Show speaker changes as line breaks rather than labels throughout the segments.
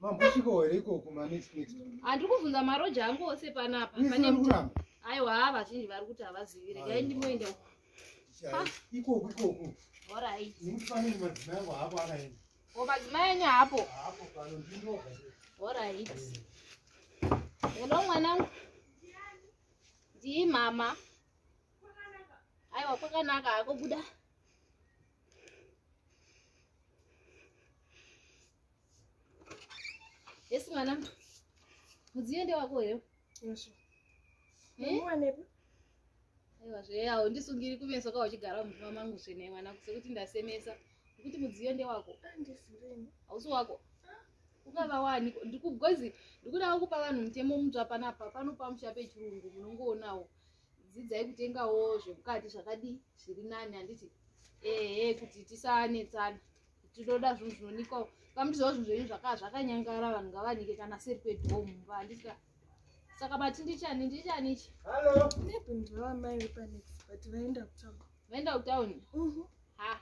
Mambosvikawo here ikoko ma next next? Handiri kuvhunza maroja angu ose panapa. Pane Pane kuti kuramba. aiwa haa vazhinji vari kuti havazivi regai Aiwa. ndimoenda uko. Chai, Ikoko ikoko. Alright. Ndikufanire madzimai angu haapo akaenda. Ko madzimai enyu haapo. Haapo pano ndinoga. Alright. Hello mwanangu. Ndii mama. Aiwa kwakanaka hako buda. Yes mwana. Mudziyo ndewako here? Yes. Muwanepi? Eh? Aiwa zve haundisungiri kumeso ka uchigara mumba mangu zvene mwana sekuti ndasemesa. Kuti mudziyo ndewako. Andisireni. Ah, Hausi wako. Ukava wani ndikugozi ndikuda kupa vanhu mutemo mutsva panapa panopa musha pechirungu munongoonawo. Dzidzai kutengawo zvemukati zvakadii zviri nani handiti? Ehe kuti tisanetsana. tinoda zvinhu zvinonikwa kamutizawo zvinhu zvenyu zvakaa zvakanyangara vanhu ngavanike kana seri kwedhoo mumba handika saka bati ndichani ndichani ichi nebundivamai vepanex but vaenda kutown vaenda kutown mhm. ha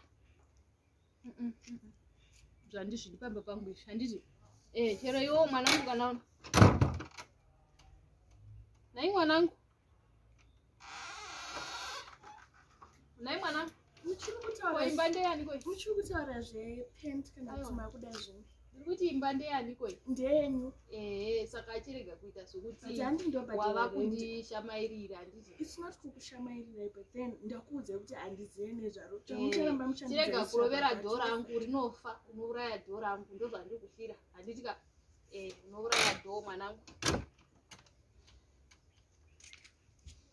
zvandizvidi pamba pangu izvi handiti eh, chero iwo mwanangu kana nayi mwanangu nhai mwana uchiri kutauraimba ndeyani koi uchiri kutaura zvepent kana kuti makuda zvimwe ndiri kuti imba ndeyani koi ndeyenyu ehe saka achirega kuita zvekutiwava kundishamairira andizisnot kukushamairirai but then ndakuudzai kuti handizive nezvaro chirega kurovera dho rangu rinofa unouraya dho rangu ndozvandiri kufira handiti ka eh unouraya dhoo mwanangu